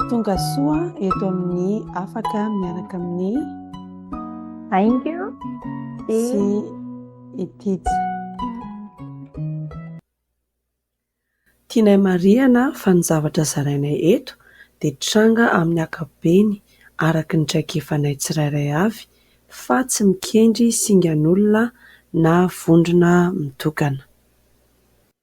Tonga soa eto amin'ny afaka miaraka amin'ny Aingo sy Itija. Tianay marihana fa ny zavatra zarainay eto dia tranga amin'ny ankapobeny araka ny traikefanay tsirairay avy fa tsy mikendry singan'olona na vondrona mitokana.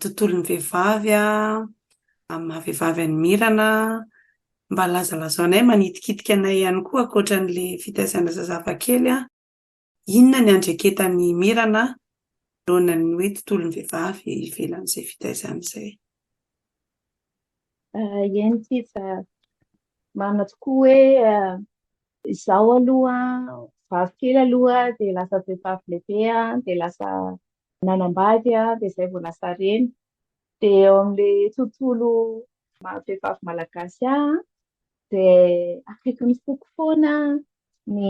tontolon'ny vehivavy amin'ny maha vehivavy an'i Mirana, mba lazalazao anay, manitikitika anay ihany koa ankoatra an'ilay fitaizana zazava kely an, inona ny andreketan'i Mirana noana ny hoe tontolon'ny vehivavy ivelan'izay fitaizana izay. Eny sisa, marina tokoa hoe izaho aloha vavy kely aloha dia lasa vehivavy lehibe dia lasa nanambady aho dia izay vao lasa reny. Dia ao amin'ilay tontolo vehivavy malagasy aho dia akaiky ny foko foana ny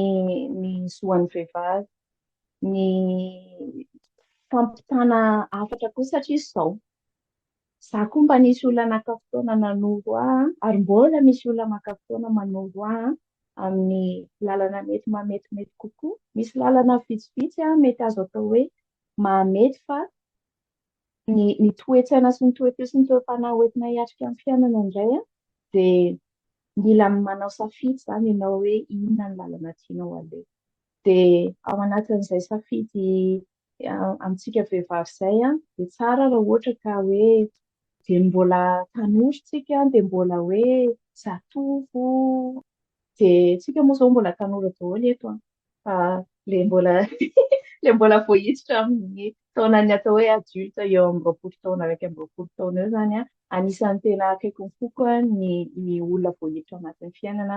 ny zoan'ny vehivavy, ny fampitana hafatra koa satria izao. Za koa mba nisy olona naka fotoana nanoro ahy an, ary mbola misy olona maka fotoana manoro ahy an, amin'ny lalana mety mahametimety kokoa. Misy lalana vitsivitsy an mety azo atao hoe mahamety fa ny ny toe-tsaina sy ny toe-feo sy ny toe-panahy hoentina hiatrika amin'ny fiainana indray an, dia mila manao safidy izany ianao hoe inona ny lalana tianao haleha. Dia ao anatin'izay safidy amintsika vehivavy izay dia tsara raha ohatra ka hoe dia mbola tanora tsika dia mbola hoe zatovo dia tsika moa izao mbola tanora daholo eto an fa le mbola le mbola vao hiditra amin'ny taonan'ny atao hoe adulte eo amin'ny roapolo taona araiky amin'ny roapolo taona eo zany an anisan'ny tena akaiky ny foko ny ny olona vao hiditra anatin'ny fiainana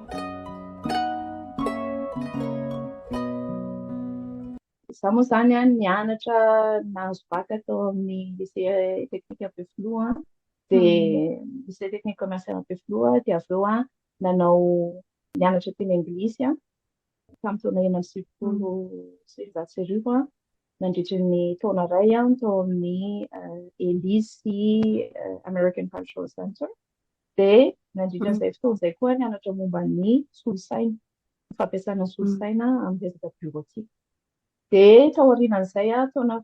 Izaho moa izany an, nianatra nahazo bac tao amin'ny lycée technique Ampefiloha an, dia mm. lycée technique commercial Ampefiloha, dia avy eo an nanao nianatra teny anglisy an, tamin'ny taona enina amby sivifolo sy efajato sy arivo an, nandritra ny taona iray an tao amin'ny euh, Elise euh, American Cultural Center. Dia nandritra an'izay fotoana izay koa aho nianatra momba ny solosaina, ny fampiasana ny solosaina amin'ny resaka biorotika. Dia tao aorianan'izay aho, taona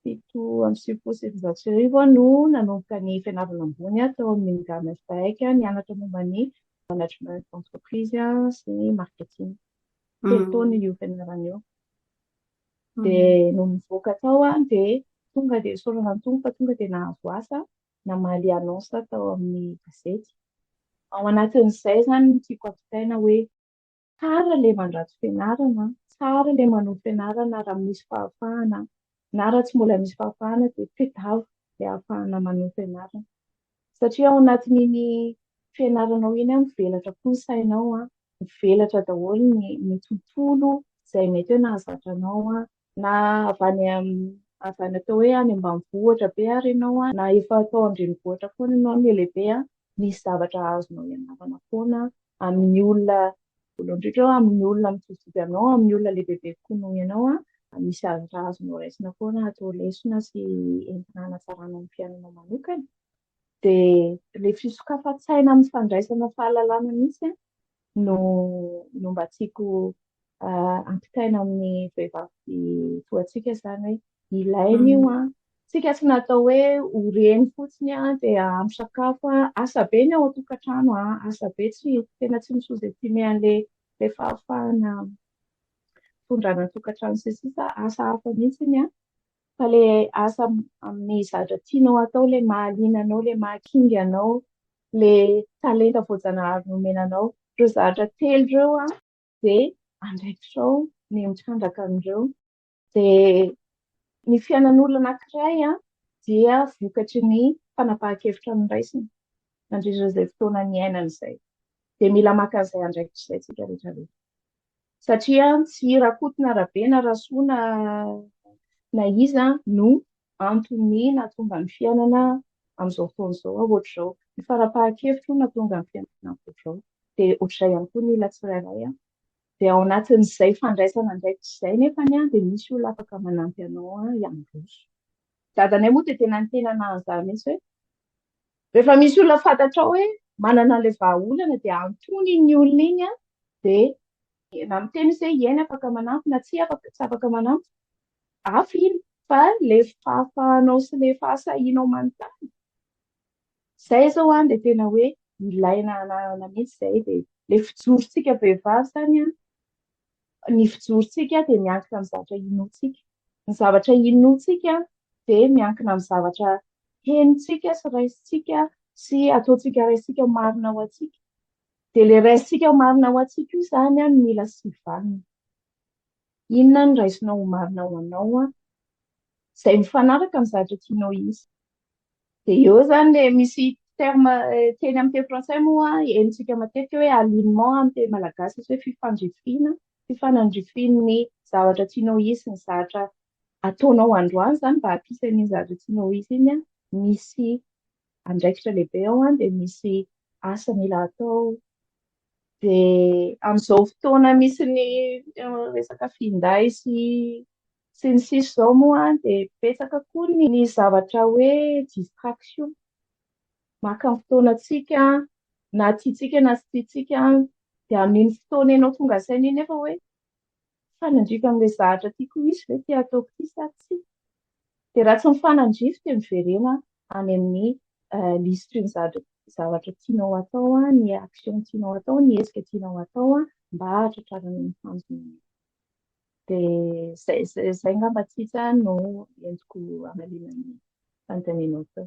fito amby sivifolo sy sivinjato sy arivo aho no nanomboka ny fianarana ambony aho tao amin'ny Mingame FPAEC, nianatra momba ny management d'entreprise sy ny marketing. Telo taona io fianarana io. Dia nony nivoaka tao aho dia tonga dia soraran'ny Tompo fa tonga dia nahazo asa. namaly annonce tao amin'ny gazety. Ao anatin'izay izany no tiako ampitaina hoe tsara ilay mandrato fianarana, tsara ilay manohy fianarana raha misy fahafahana na raha tsy mbola misy fahafahana dia tadiavo ilay hahafahana manohy fianarana. Satria ao anatin'iny fianaranao iny mivelatra koa ny sainao, mivelatra daholo ny, ny tontolo izay mety hoe nahazatra anao na avy any amin'ny avy any atao hoe any ambanivohitra be ary ianao an, na efa atao an-drenivohitra foana ianao anie lehibe an, misy zavatra azonao ianarana foana amin'ny olona, voalohany indrindra eo amin'ny olona mitsikitsiky anao, amin'ny olona lehibebe kokoa noho ianao an, misy zavatra azonao raisina foana atao lesona sy entina hanatsarana ny fiainanao manokana, dia ilay fisokafan-tsaina amin'ny fandraisana fahalalana mihitsy an, no no mba tiako ampitaina amin'ny vehivavy toa antsika izany hoe ilaina io an tsika tsy natao hoe ho reny fotsiny an dia ampy sakafo an asa be ny ao an-tokantrano an asa be tsy tena tsy misozestime an'ilay le fahafahana fondrana an-tokantrano sy sisa asa hafa mihitsy ny an fa le asa amin'ny zadra tianao atao le mahaliana anao le mahakinga anao ilay talenta voajanahary nomena anao. Ireo zavatra telo ireo dia andraikitrao ny mitrandraka an'ireo. Dia ny fiainan'olona anankiray dia vokatry ny fanapahan-kevitra noraisiny nandritra izay fotoana niainany izay. Dia mila maka an'izay andraikitra izay tsika rehetra rehetra. Satria tsy Rakoto na Rabe na Rasoa na na iza no antony nahatonga ny fiainana amin'izao fotoana izao ohatr'izao. Ny farapahan-kevitro nahatonga ny fiainana ohatr'izao. Dia ohatr'izay ihany koa ny olona tsirairay. Dia ao anatin'izay fandraisana andraikitra izay nefa ny dia misy olona afaka manampy anao hiandroso. Dadanay moa dia tena ny tena nahanzany mihitsy hoe rehefa misy olona fantatrao hoe manana an'ilay vahaolana dia antony iny olona iny dia na miteny izy hoe ieny afaka manampy na tsy afaka manampy Hafa iny fa le fahafahanao sy le fahasahianao manontany, zay izao an dia tena hoe ilaina ananana mihitsy izay dia le fijorontsika vehivavy zany an, ny fijorontsika dia miankina amin'ny zavatra inoantsika, ny zavatra inoantsika dia miankina amin'ny zavatra henontsika sy raisintsika sy ataontsika raisintsika marina ho antsika, dia le raisintsika marina ho antsika io zany an no mila sivanina. Inona no raisinao ho marina ho anao an? Izay mifanaraka amin'ny zavatra tianao hisy. Dia eo izany ilay misy terme teny amin'ny teny frantsay moa henontsika matetika hoe alignement amin'ny teny malagasy misy hoe fifandrifiana, fifanandrifian'ny zavatra tianao hisy ny zavatra ataonao androany izany mba hampisy an'iny zavatra tianao hisy iny an, misy andraikitra lehibe ao an, dia misy asa mila atao. Dia amin'izao fotoana misy ny resaka finday sy sy ny sisa izao moa dia betsaka koa ny zavatra hoe distraction. Maka ny fotoanantsika na tiantsika na tsy tiantsika dia amin'iny fotoana ianao tonga saina iny nefa hoe. mifanandrify amin'ilay zahatra tiako ho izy ve ity ataoko ity sa tsia? Dia raha tsy mifanandrify dia miverena any amin'ny euh, liste ny zavatra zavatra tianao atao an, ny action tianao atao, ny hetsika tianao atao an, mba hahatratrarana ny tanjona. Dia zay zay, zay ngamba tsitsa no entiko amalina ny fanontanianao teo.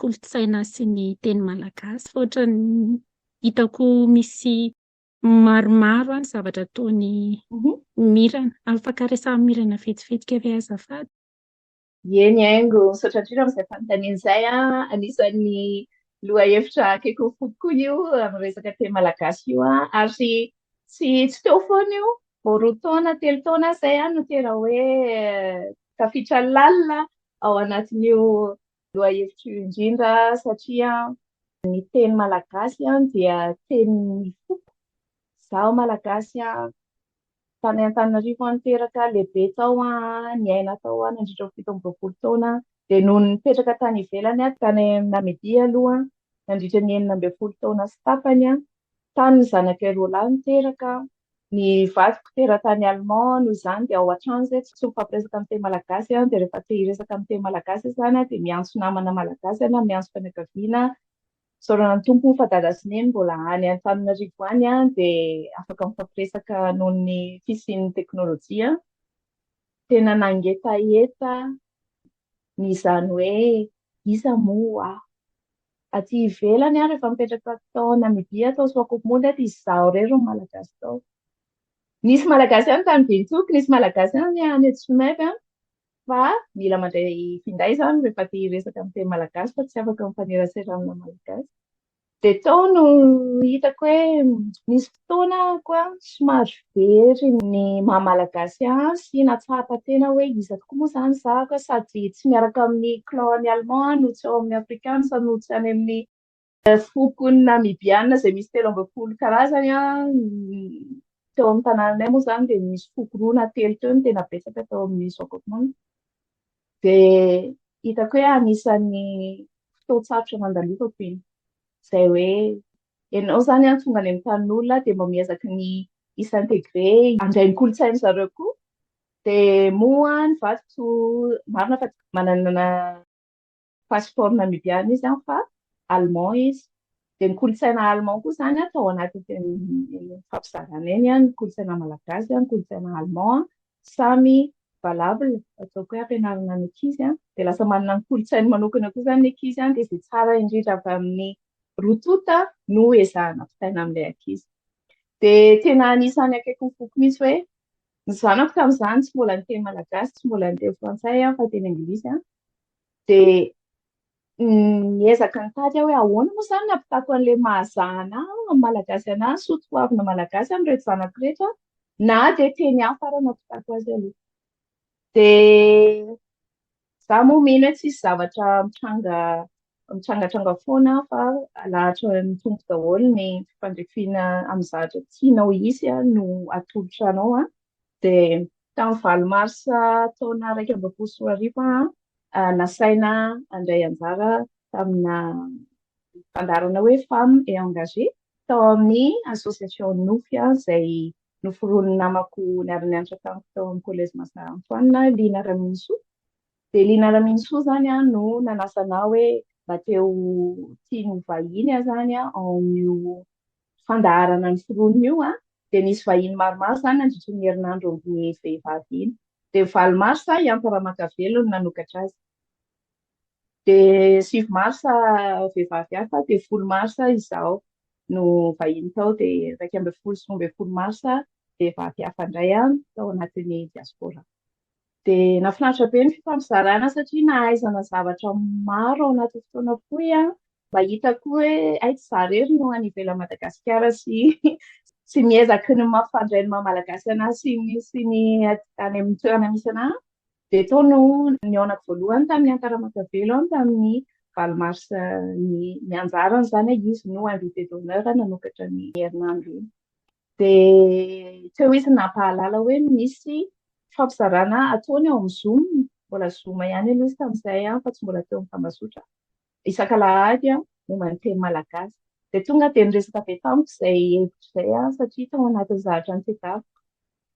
kolontsaina sy ny teny malagasy fa ohatran'ny hitako misy maromaro any zavatra ataony mirana afaka resaha mirana vetivetika ve azafady Eny aingo, misaotra indrindra amin'izay fanontaniana izay. Anisan'ny lohahevitra akaiky ny foko koa io amin'ny resaka teny malagasy io. Ary tsy tsy teo foana io, vao roa taona, telo taona izay no tena hoe tafiditra lalina ao anatin'io Lohahevitro indrindra satria ny teny malagasy dia tenin'ny foko. Izaho malagasy tany Antananarivo aho niteraka, lehibe tao aho, niaina tao aho nandritra ny fito amby roapolo taona. Dia nony nipetraka tany ivelany aho, tany Namibia aloha nandritra ny enina ambin'ny folo taona sy tapany, Tany ny zanakay roa lahy no teraka. Ny vadiko teratany allemand, noho izany dia ao an-trano izay tsy mifampiresaka amin'ny teny malagasy dia rehefa te hiresaka amin'ny teny malagasy izy izany dia miantso namana malagasy na miantso fianakaviana isaorana ny Tompo fa dada sy neny mbola any Antananarivo any dia afaka mifampiresaka noho ny fisian'ny teknolojia. Tena nangetaheta Ny izany hoe iza moa ho aho. Aty ivelany aho rehefa mipetraka tao Namibia tao Swakopmund aty izaho irery no malagasy tao. Nisy malagasy any tany Windhoek, nisy malagasy any any Tsumeb an. Fa mila mandray finday izany rehefa te hiresaka amin'ny teny malagasy fa tsy afaka mifaneraserana malagasy. Dia tao no hitako hoe nisy fotoana koa somary very ny maha malagasy ahy sy nahatsapa tena hoe iza tokoa moa izany izaho ka sady tsy miaraka amin'ny clan any allemand aho no tsy ao amin'ny afrikansa no tsy any amin'ny foko ny namibiana izay misy telo ambin'ny folo karazany an, teo amin'ny tanànanay moa izany dia nisy foko roa na telo teo no tena betsaka tao amin'ny Swakopmund. Dia hitako hoe anisan'ny fotoan-tsarotra nandalofako iny. Izay hoe ianao izany an, tonga any amin'ny tanin'olona dia mba miezaka ny hi-s'intégrer, handray ny kolontsain'ny zareo koa. Dia moa ny vadiko marina fa manana passeport namibiana izy an, fa allemand izy. Dia ny kolontsaina allemand koa izany an, tao anatin'iny fampizarana iny an, ny kolontsaina malagasy, ny kolontsaina allemand. samy valable ataoko hoe ampianarana ny ankizy an, dia lasa manana ny kolontsainy manokana koa izany ny ankizy an, dia izay tsara indrindra avy amin'ny roa tonta no ezahana vitaina amin'ilay ankizy. Dia tena anisan'ny akaiky ny foko mihitsy hoe ny zanako tamin'izany tsy mbola niteny malagasy, tsy mbola niteny frantsay an, fa teny anglisy an, dia Miezaka nitady aho hoe ahoana moa izany ny ampitako an'ilay mahazaha anà amin'ny Malagasy anà, ny soa toavina Malagasy amin'ireto zanako ireto an, na dia teny hafa ary no ampitako azy aloha. Dia izaho moa mino hoe tsisy zavatra mitranga mitrangatranga foana fa alahatra ny tompo daholo ny fandrifiana amin'ny zavatra tianao hisy no atolotra anao an, Dia tamin'ny valo marsa taona iraika amby roapolo sy roa arivo aho ah, nasaina handray anjara tamina fandaharana hoe Femme et Engagée tao amin'ny association Nofy ah, izay noforonin'ny namako niara-nianatra tamiko tao amin'ny collège Masa Antoine, Lina Raminisoa. Dia Lina Raminisoa izany ah, no nanasa anah hoe mba te ho tiany ho vahiny aho izany ah, ao amin'io fandaharana ny foronina io an, dia nisy vahiny maromaro izany nandritry ny herinandro omby ny vehivavy iny. Dia valo marsa i Anta Ramakavelo no nanokatra azy. Dia sivy marsa vehivavy hafa, dia folo marsa izaho no vahiny tao, dia iraika ambin'ny folo sy roa ambin'ny folo marsa vehivavy hafa indray an, tao anatin'ny diaspora. Dia nahafinaritra be ny fifampizarana satria nahaizana zavatra maro ao anatin'ny fotoana fohy an, mba hitako hoe hay tsy za irery no any ivelan'i Madagasikara sy sy miezaky ny mampifandray ny maha malagasy anahy sy ny sy ny any amin'ny toerana misy anahy. Dia tao no nihaonako voalohany tamin'ny Antara Makavelo an, tamin'ny valo mars ny ny anjarany izany an, izy no invité d'honneur nanokatra ny herinandro iny. Dia tsy hoe izy nampahalala hoe misy fampizarana ataony ao amin'ny Zoom, mbola Zoom ihany aloha izy tamin'izay fa tsy mbola teo amin'ny tambazotra, isaka alahady momba ny teny malagasy. Dia tonga dia niresaka avy tamiko izay hevitra izay, satria tao anatin'ny zahatra nitadiaviko.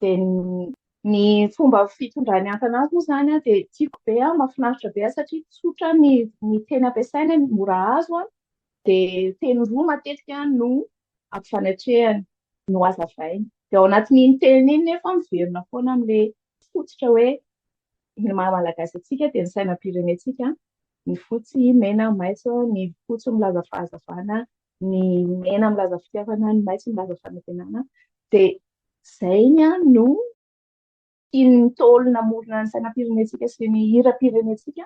dia ny fomba fitondrany antana azy moa izany an dia tiako be an, mahafinaritra be an satria tsotra ny ny teny ampiasaina, mora azo an, dia teny roa matetika no ampifanatrehany, no hazavainy. Dia ao anatin'iny teny iny nefa miverina foana amin'ilay fototra hoe ny maha malagasy antsika dia ny sainam-pirenentsika, ny fotsy, mena, maitso, ny fotsy milaza fahazavana, ny mena milaza fitiavana, ny maitso milaza fanantenana, dia izay ny any no tian'ny Ntaolo namorona ny sainam-pirenentsika sy ny hiram-pirenentsika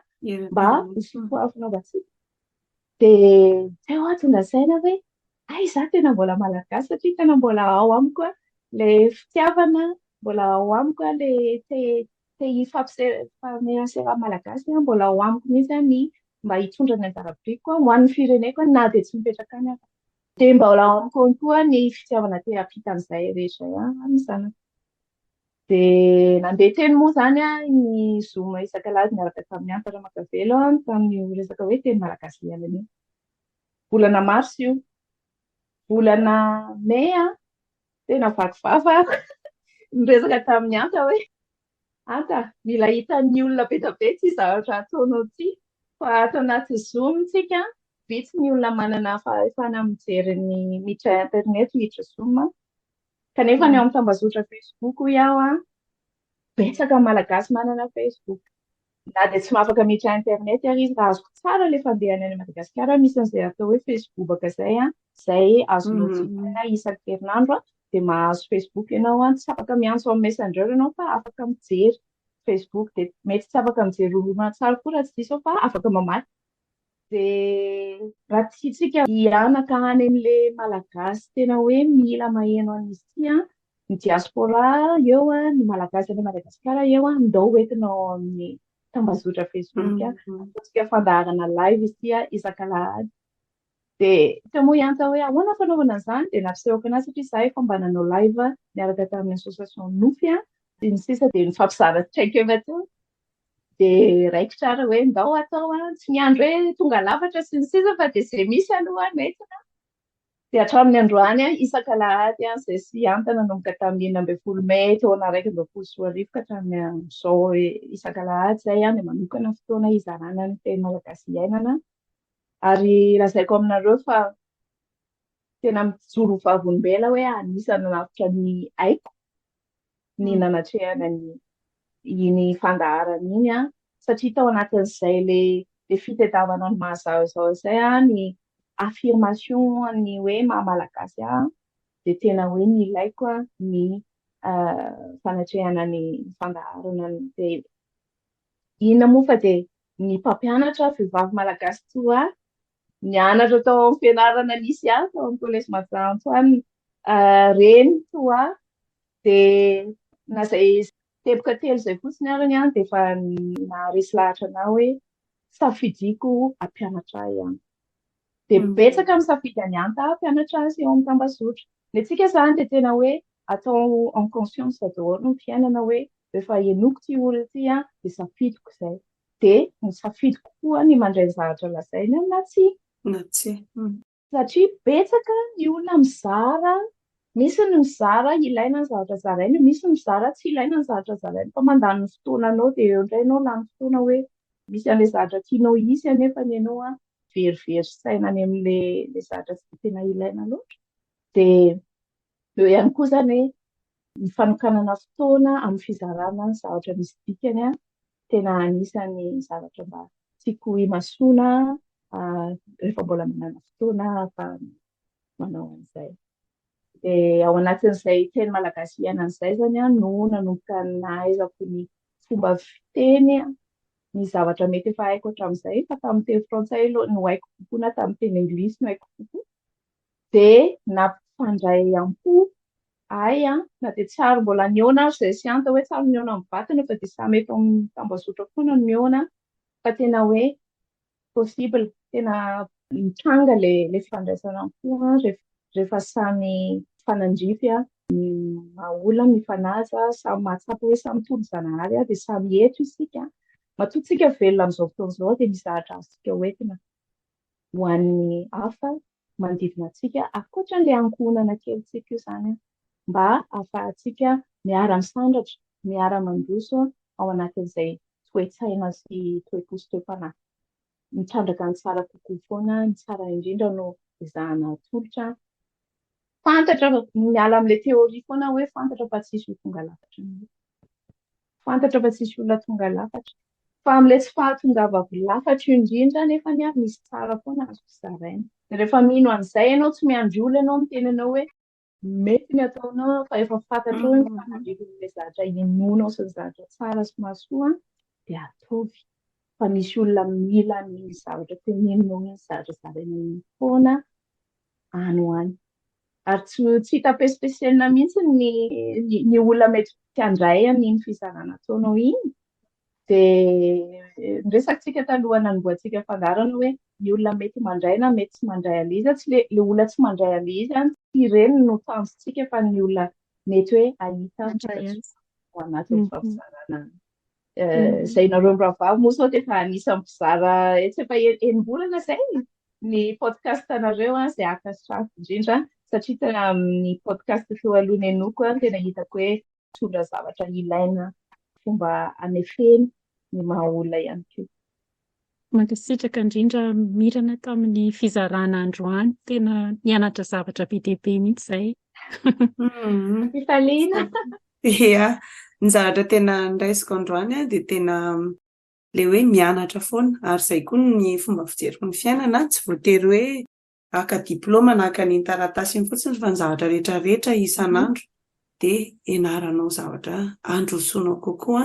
mba hisoafahafanovantsika. Dia izay hoa tonga saina hoe, ay za tena mbola malagasy satria tena mbola ao amiko ilay fitiavana, mbola ao amiko ilay te Te hifampifamehana sy raha malagasy aho mbola ao amiko mihitsy aho ny mba hitondra ny anjara biriko aho ho an'ny fireneko aho na dia tsy mipetraka any aho dia mbola ao amiko ihany koa ny fitiavana te hampita an'izay rehetra ihany amin'ny zanako dia nandeha teny moa izany aho ny zoma isakalazy niaraka tamin'ny Anta Ramakavelo aho tamin'io resaka hoe teny malagasy ialana io volana mars io volana mai aho Tena vaky vava aho niresaka tamin'i Anta hoe Anta, mila hitan'ny olona be dia be ity zavatra ataonao ity fa ato anaty Zoom tsika vitsy ny olona manana fahefana mijery ny miditra internet miditra Zoom kanefa ny ao amin'ny tambazotra Facebook hoy aho betsaka malagasy manana Facebook. Na dia tsy mahafaka miditra internet ary izy raha azoko tsara ilay fandehany any Madagasikara misy an'izay atao hoe Facebook-baka izay an, izay azonao hmm. jifaina isaky herinandro an, dia mahazo Facebook ianao an, tsy afaka miantso amin'ny messenger ianao fa afaka mijery Facebook dia mety tsy afaka mijery horonan-tsary koa raha tsy diso aho fa afaka mamaky Dia raha tiantsika hihanaka any amin'ilay malagasy tena hoe mila maheno an'i Sia, ny diaspora eo, ny malagasy any Madagasikara eo, ndao hoentina ao amin'ny tambazotra Facebook. Ataontsika fandaharana live ity isak'alahady. Dia tsy moa ihany hoe ahoana fanaovana an'izany dia nampisehoako anazy satria izaho efa mba nanao live niaraka tamin'ny association Nofy sy ny sisa dia nifampizara traikefa teo. dia raikitra ary hoe ndao atao a, tsy miandry hoe tonga lafatra sy ny sisa fa dia izay misy aloha no entina a. Dia hatramin'ny androany a, isaka alahady a, izay sy Anta nanomboka tamin'ny enina ambin'ny folo mey taona iraika amby roapolo sy roa arivo ka hatramin'ny amin'izao isaka alahady izay a, dia manokana ny fotoana hizarana ny teny malagasy iainana ary lazaiko aminareo fa tena mijoro ho vavolombelona hoe anisan'ny nanavotra ny aiko. ny mm. nanatrehana ny iny fandaharana iny a satria tao anatin'izay le le fitedavana ny mahazazao izay a ny affirmation ny hoe mahamalagasy a de tena hoe ny ilaiko a ny fanatrehana ny fandaharana ny de inona moa fa de ny mpampianatra vehivavy malagasy toa nianatra tao amin'ny fianarana nisy ahy tao amin'ny collège Mahajantsy any ah, reny toa dia na izay teboka telo izay fotsiny ary ny any dia efa naharesy lahatra anah hoe safidiko hampianatra ahy any dia mm. betsaka amin'ny safidy any anta hampianatra azy eo amin'ny tambazotra ny antsika izany dia tena hoe atao en conscience daholo ny fiainana hoe rehefa henoko ty olona ty an dia safidiko izay dia nisafidy kokoa ny mandray ny zavatra lazainy na tsia. Na tsia. Satria betsaka ny olona mizara, misy ny mizara ilaina ny zavatra zarainy, misy ny mizara tsy ilaina ny zavatra zarainy fa mandany ny fotoananao dia eo indray ianao lany fotoana hoe misy an'ilay zavatra tianao hisy anefa ny anao an, very very saina any amin'ilay zavatra tsy dia tena ilaina loatra. Dia eo ihany koa izany hoe ny fanokanana fotoana amin'ny fizarana ny zavatra misy dikany an, tena anisan'ny zavatra mba tiako ho imasoana rehefa mbola manana fotoana fa manao an'izay. Dia ao anatin'izay teny malagasy iainana izay izany an, no nanomboka nahaizako ny fomba fiteny ny zavatra mety efa haiko hatramin'izay, fa tamin'ny teny frantsay no haiko kokoa na tamin'ny teny anglisy no haiko kokoa, dia nampifandray am-po ahy an, na dia tsy ary mbola nihaona ary izay tsy antony hoe tsy ary nihaona mivantana fa dia samy eto amin'ny tambazotra foana no mihaona fa tena hoe possible, tena mitranga ilay ilay fifandraisana am-po an, rehefa rehefa samy mifanandrify an, ny maha olona mifanaja, samy mahatsapa hoe samy toa ry zanahary an, dia samy eto isika, matoa tsika velona amin'izao fotoana izao dia misy zahatra azontsika hoentina. ho an'ny hafa manodidina antsika, ankoatran'ilay ankohonana kelintsika io izany, mba hahafahantsika miara-misandratra, miara-mandroso ao anatin'izay toe-tsaina sy toe-po sy toe-panahy mitrandraka ny tsara kokoa foana, ny tsara indrindra no ezahana atolotra. Fantatra, miala amin'ilay théorie foana hoe fantatra fa tsisy ho tonga lafatra an'io. Fantatra fa tsisy olona tonga lafatra. Fa amin'ilay tsy fahatongavako lafatra io indrindra anefa ny ahy misy tsara foana azoko zaraina. Rehefa mino an'izay ianao, tsy miandry olona ianao miteny anao hoe mety ny ataonao fa efa fantatrao ny fanandrian'ilay zavatra inoanao sy ny zavatra tsara sy mahasoa dia ataovy. Fa misy olona mila an'iny zavatra teneninao iny, zavatra zarainao iny foana. any ho any. Ary tsy, tsy hita pespesienina mihitsy ny, ny, ny olona mety handray an'iny fizarana ataonao iny. Dia ny resakitsika taloha nanombohantsika fandaharana hoe ny olona mety mandray na mety tsy mandray an'ilay izy, tsy le, le olona tsy mandray an'ilay izy, tsy ireny no tanjontsika fa ny olona mety hoe ahita ho anatin'ny fampizarana izay nareo mirahavavy moa sao dia efa anisan'ny mpizara etsy efa enim-bolana izay ny podcast anareo an izay araka ny safo indrindra satria tena amin'ny podcast feo aloha ny anoko an tena hitako hoe mitondra zavatra ilaina fomba anefena ny maha olona ihany koa Mankasitraka indrindra Mirana tamin'ny fizarana androany, tena nianatra zavatra be dia be mihitsy izahay. Mampifaliana. Ia, ny zavatra tena niraisiko androany dia tena ilay hoe mianatra foana ary izay koa ny fomba fijeriko ny fiainana, tsy voatery hoe haka diplaoma na haka an'iny taratasy iny fotsiny fa ny zavatra rehetra rehetra isan'andro dia ianaranao zavatra handrosoanao kokoa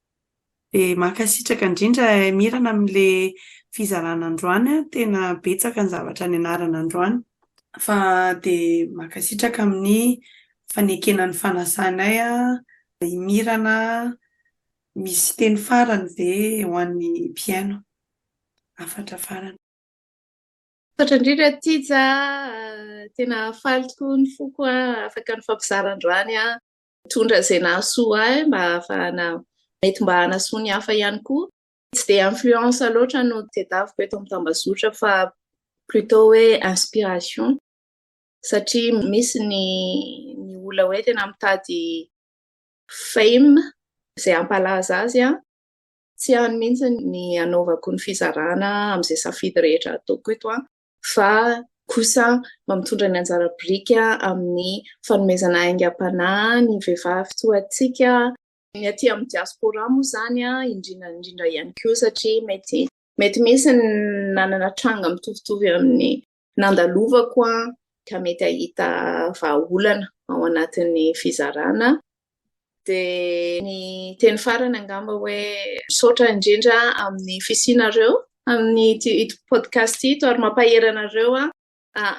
Dia mankasitraka indrindra Mirana amin'ilay fizarana androany an, tena betsaka ny zavatra nianarana androany fa dia mankasitraka amin'ny fanekena ny fanasanay an, i Mirana misy teny farany ve ho an'ny mpihaino? Hafatra farany. Misaotra indrindra Tija a, tena faly tokoa ny foko an, afaka nifampizara androany an. Mitondra izay nahasoa ahy mba hahafahana, mety mba hanasoa ny hafa ihany koa. Tsy dia influence loatra no tedaviko eto amin'ny tambazotra fa plutôt hoe inspiration satria misy ny ny olona hoe tena mitady fame izay hampalaza azy an! Tsy any mihitsy ny hanaovako ny fizarana amin'izay safidy rehetra ataoko eto an! fa kosa mba mitondra ny anjara biriky amin'ny fanomezana aingam-panahy ny vehivavy toa antsika, ny aty amin'ny diaspora moa izany indrindra indrindra ihany koa satria mety mety misy ny nanana tranga mitovitovy amin'ny nandalovako ka mety hahita vahaolana ao anatin'ny fizarana. Dia ny teny farany angamba hoe misaotra indrindra amin'ny fisianareo amin'ity ito podcast ito ary mampahery anareo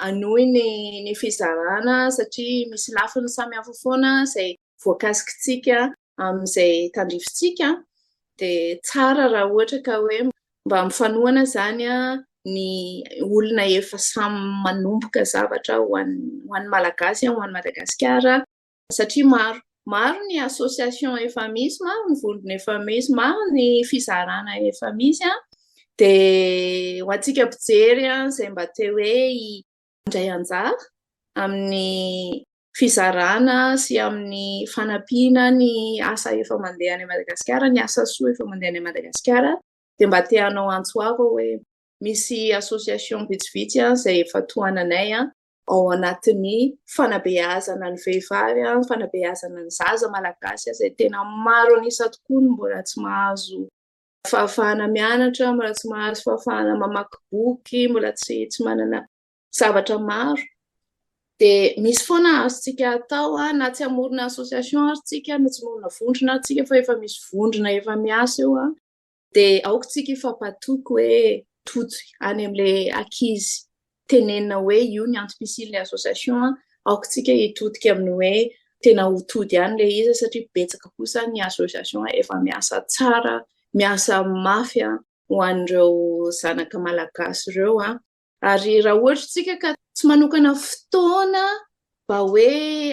hanohy ny ny fizarana satria misy lafiny samihafa foana izay voakasikitsika amin'izay tandrifintsika dia tsara raha ohatra ka hoe mba mifanohana izany ny olona efa samy manomboka zavatra ho an'ny ho an'ny Malagasy ho an'i Madagasikara satria maro maro ny association efa misy, maro ny vondrona efa misy, maro ny fizarana efa misy an, dia ho antsika mpijery an, izay mba te hoe handray anjara amin'ny fizarana sy amin'ny fanampiana ny asa efa mandeha any Madagasikara, ny asa soa efa mandeha any Madagasikara, dia mba te hanao antso avo aho hoe misy association vitsivitsy an izay efa tohananay an, ao anatin'ny fanabeazana ny vehivavy, ny fanabeazana ny zaza malagasy izay tena maro an'isa tokoa no mbola tsy mahazo fahafahana mianatra, mbola tsy mahazo fahafahana mamaky boky, mbola tsy tsy manana zavatra maro. Dia misy foana azontsika atao na tsy hamorona association ary tsika, na tsy hamorona vondrona ary tsika fa efa misy vondrona efa miasa eo Dia aoka tsika hifampatoky hoe tojo any amin'ilay ankizy tenenina hoe io ny antom-pisian'ilay association an, aoka tsika hitodika amin'ny hoe tena ho tody ihany ilay izy satria betsaka kosa ny association efa miasa tsara, miasa mafy ho an'ireo zanaka malagasy ireo an. Ary raha ohatra isika ka tsy manokana fotoana mba hoe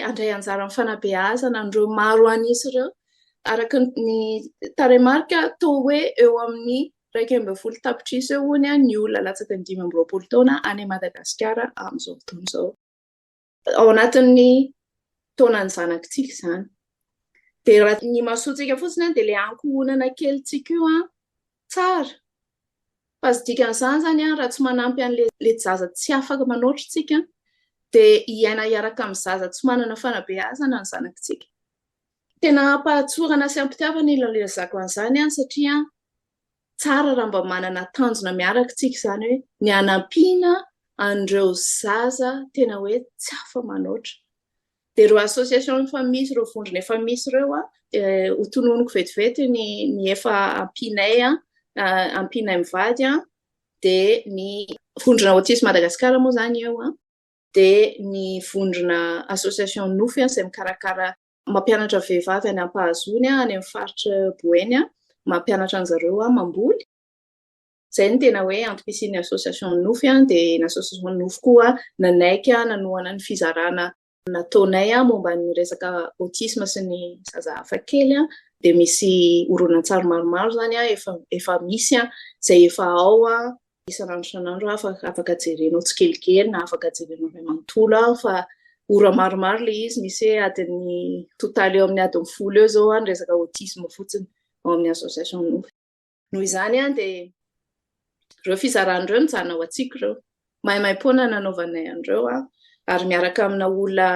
andray anjara amin'ny fanabeazana an'ireo maro an'isa ireo, araka ny tarehimarika toa hoe eo amin'ny iraika ambin'ny folo tapitrisa eo hono ny olona latsaky ny dimy amby roapolo taona any Madagasikara amin'izao fotoana izao. ao anatin'ny taonan'ny zanakitsika izany. Dia raha ny masontsika fotsiny dia ilay ankohonana kely tsika io an, tsara. Fa ny dikan'izany izany an, raha tsy manampy an'ilay zaza tsy afaka manoatra isika, dia hiaina hiaraka amin'ny zaza tsy manana fanabeazana ny zanakitsika. Tena ampahatsorana sy ampitiavana ilay ilazako an'izany an, satria Tsara raha mba manana tanjona miaraka isika izany hoe ny hanampiana an'ireo zaza tena hoe tsy afa manoatra. Dia ireo association efa misy, ireo vondrona efa misy ireo dia ho tononiko vetivety ny ny efa ampianay ampianay mivady dia ny vondrona Autisme Madagascar moa izany eo dia ny vondrona association Nofy izay mikarakara mampianatra vehivavy any ampahazoany any amin'ny faritra Boeny aho, mampianatra an'i zareo aho mamboly. Izay no tena hoe antom-pisian'ny association Nofy aho, dia ny association Nofy koa nanaiky aho nanohana ny fizarana nataonay aho momba ny resaka autisme sy ny zaza hafa kely aho, dia misy horonantsary maromaro izany aho efa efa misy aho, izay efa ao aho isan'andro isan'andro afaka afaka jerenao tsikelikely na afaka jerenao iray manontolo aho fa ora maromaro le izy misy hoe adin'ny totaly eo amin'ny adin'ny folo eo zao any resaka autisme fotsiny ao amin'ny association nofy noho izany any dia reo fizarany reo mijanona ao antsiko reo maimaim-poana nanaovanay an'ireo a ary miaraka amina olona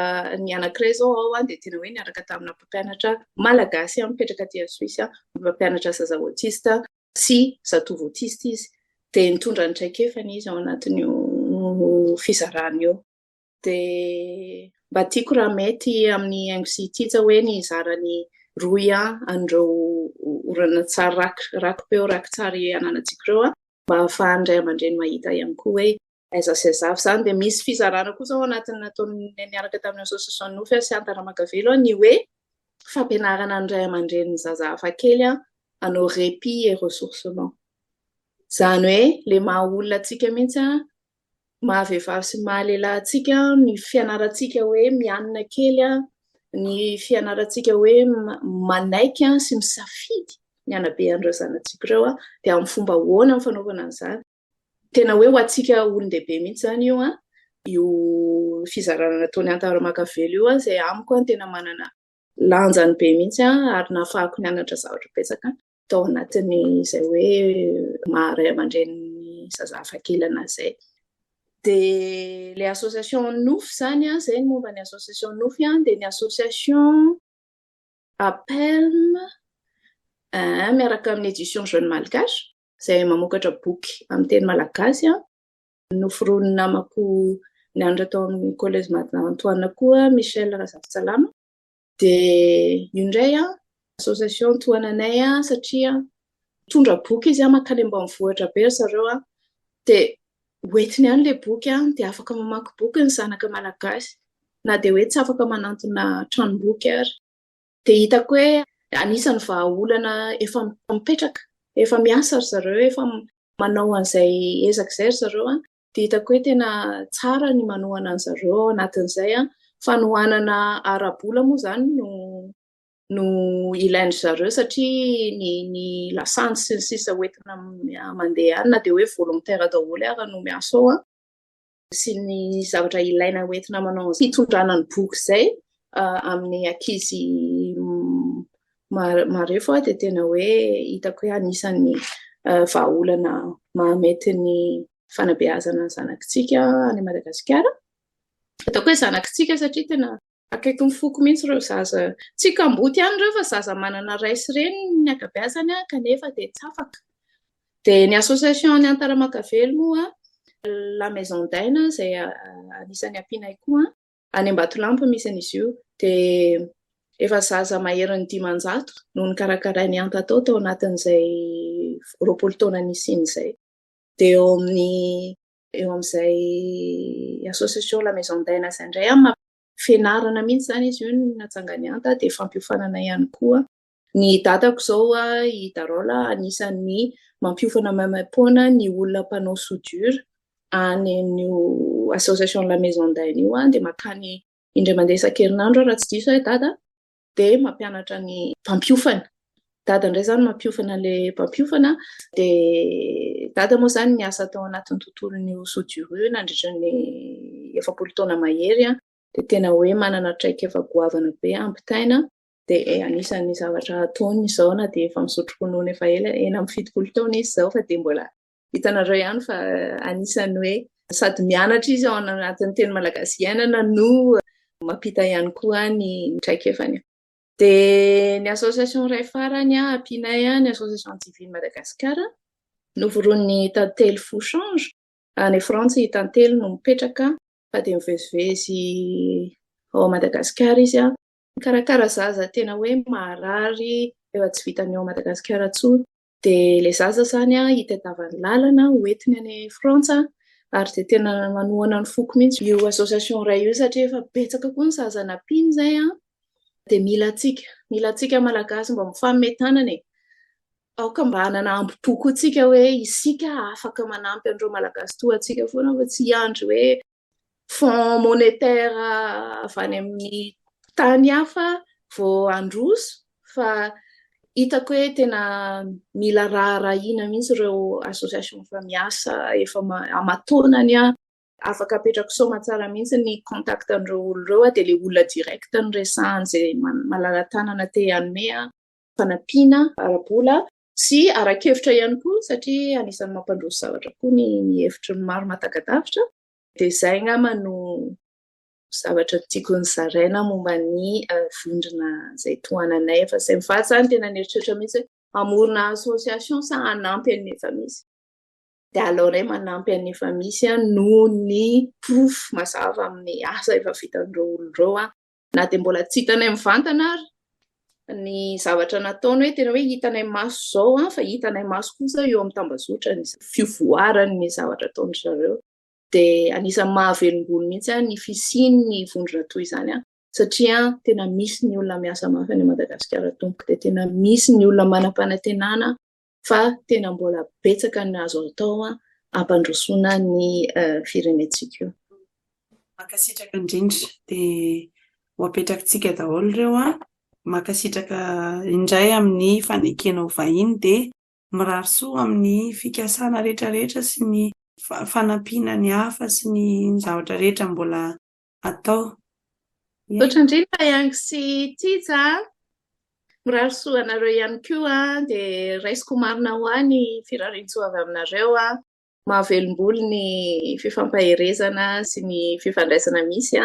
ny anankiray zao ao any dia tena hoe niaraka tamina mpampianatra malagasy a mipetraka aty a suisse a mpampianatra zaza autiste sy zatovo autiste izy dia nitondra ny traikefany izy ao anatin'io fizarana io. Dia mba tiako raha mety amin'ny haingo sy tija hoe ny hizara ny rohy an'ireo horonantsary rakipeo rakitsary ananantsika ireo mba ahafahan'ny ray aman-dreny mahita ihany koa hoe Aiza sy aiza avy izany? Dia misy fizarana kosa ao anatin'ny nataon'ny niaraka tamin'ny Association Nofy sy Antaramagavelo ny hoe fampianarana ny ray aman-dreny ny zaza hafakely hanao répit et ressourcement. Izany hoe ilay maha olona antsika mihitsy maha vehivavy sy maha lehilahy antsika ny fianarantsika hoe mianina kely ny fianarantsika hoe manaiky sy misafidy ny hanabehan'ireo zanatsika ireo dia amin'ny fomba ahoana ny fanaovana an'izany? Tena hoe ho antsika olon-dehibe mihitsy izany io an, io fizarana nataon'i Anta Ramakavelo io izay amiko an tena manana lanjany be mihitsy an, ary nahafahako nianatra zavatra betsaka tao anatin'izay hoe maha ray aman-drenin'ny zaza hafakely an'ahy izay. Dia ilay association Nofy izany an, izay ny momba ny association Nofy an, dia ny association APELM miaraka amin'ny Edition Jeune Malgache, izay mamokatra boky amin'ny teny malagasy. Noforonin'ny namako nianatra tao amin'ny Collège Matin Antoine koa Michel Razafintsalama. Dia io indray association tohananay satria mitondra boky izy mankany ambanivohitra be ry zareo. Dia hoentiny any ilay boky dia afaka mamaky boky ny zanaka malagasy na dia hoe tsy afaka manantona tranomboky ary. Dia hitako hoe anisan'ny vahaolana efa mipetraka, efa miasa ry zareo, efa manao an'izay ezaka izay ry zareo an, dia hitako hoe tena tsara ny manohana an'i zareo ao anatin'izay an, fanohanana ara-bola moa izany no no ilain-dry zareo satria ny ny lasantsy sy ny sisa hoentina mandeha any na dia hoe volontaire daholo ara no miasa ao an. sy ny zavatra ilaina hoentina manao fitondrana ny boky izay amin'ny ankizy mareo fa dia tena hoe hitako hoe anisan'ny vahaolana mahamety ny fanabeazana zanakitsika any Madagasikara. Hitako hoe zanakitsika satria tena Akaiky ny foko mihitsy ireo zaza. Tsy kamboty ihany ireo fa zaza manana ray sy reny ny ankabeazany kanefa dia tsy afaka. Dia ny association any Antaramakavelo moa, la maison d'aina izay anisan'ny ampianay koa, any Ambatolampy misy an'izy io, dia efa zaza maherin'ny dimanjato no nokarakarain'i Anta tao tao anatin'izay roapolo taona nisiany izay. Dia eo amin'ny eo amin'izay association la maison d'aina izay indray an, fianarana mihitsy izany izy io ny natsangany anta dia fampiofanana ihany koa ny dadako izao i Darola anisan'ny mampiofana maimaim-poana ny olona mpanao soudure any amin'io association la maison d'aina io dia makany indray mandeha isan-kerinandro raha tsy diso ahy dada dia mampianatra ny mpampiofana. Dada indray izany mampiofana ilay mpampiofana, dia dada moa izany niasa tao anatin'ny tontolon'io sodiro nandritra ny efapolo taona mahery, dia tena hoe manana traikefa goavana be hampitaina, dia anisan'ny zavatra ataony izao na dia efa misotro ronono efa ela, enina amby fitopolo taona izy izao fa dia mbola Hitanareo ihany fa anisan'ny hoe sady mianatra izy ao anatin'ny teny malagasy iainana no mampita ihany koa ny traikefany. Dia ny association iray farany ampianay ny association civile Madagascar novoron'ny tantely fo change any Frantsa i tantely no mipetraka fa dia mivezivezy ao Madagascar izy mikarakara zaza tena hoe maharary efa tsy vitan'ny ao Madagascar intsony Dia ilay zaza izany an, hitadiavany lalana ho entiny any Frantsa ary dia tena manohana ny foko mihitsy io association iray io satria efa betsaka koa ny zaza nampiany izay an, dia mila antsika, mila antsika Malagasy mba mifanome tanana e! aoka mba hanana ambo-po koa isika hoe isika afaka manampy an'ireo Malagasy toa antsika foana fa tsy hiandry hoe. fonds monétaire avy any amin'ny tany hafa vao handroso fa hitako hoe tena mila raharahiana mihitsy ireo association efa miasa efa aman-taonany an afaka apetrako soma tsara mihitsy ny contact an'ireo olona ireo an dia ilay olona direct no resahana izay malala-tanana te hanome fanampiana ara-bola Sy ara-kevitra ihany koa satria anisan'ny mampandroso zavatra koa ny ny hevitry ny maro mahatagadavitra dia izay angamba no zavatra tiako ny zaraina momba ny vondrona izay tohananay fa izay mivatsy izany tena nieritreritra mihitsy hamorona association sa hanampy an'ny efa misy dia aleonay manampy an'ny efa misy noho ny porofo mazava amin'ny asa efa vitan'ireo olona ireo na dia mbola tsy hitanay mivantana ary ny zavatra nataony hoe tena hoe hitanay maso izao an fa hitanay maso kosa eo amin'ny tambazotra ny fivoaran'ny zavatra ataony zareo dia anisan'ny mahavelombolo mihitsy an ny fisian'ny vondrona toy izany an satria tena misy ny olona miasa mafy any madagasikara tompoko dia tena misy ny olona manam-panatenana fa tena mbola betsaka ny azo atao hampandrosoana ny firenentsika io. Mankasitraka indrindra, dia ho apetrakintsika daholo ireo an! Mankasitraka indray amin'ny fanekena ho vahiny dia mirary soa amin'ny fikasana rehetra rehetra sy ny fanampiana ny hafa sy ny zavatra rehetra mbola atao. Misaotra indrindra Yang sy Tija. Mirary soa anareo ihany koa dia raisiko marina ho ahy ny firariantsoa avy aminareo. Mahavelombolo ny fifampaherezana sy ny fifandraisana misy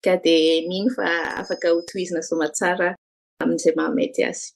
ka dia mino fa afaka hotohizina soamantsara amin'izay mahamety azy.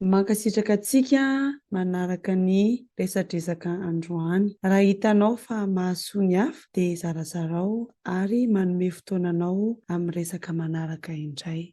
Mankasitraka antsika manaraka ny resadresaka androany. Raha hitanao fa mahasoa ny hafa dia zarazarao ary manome fotoana anao amin'ny resaka manaraka indray.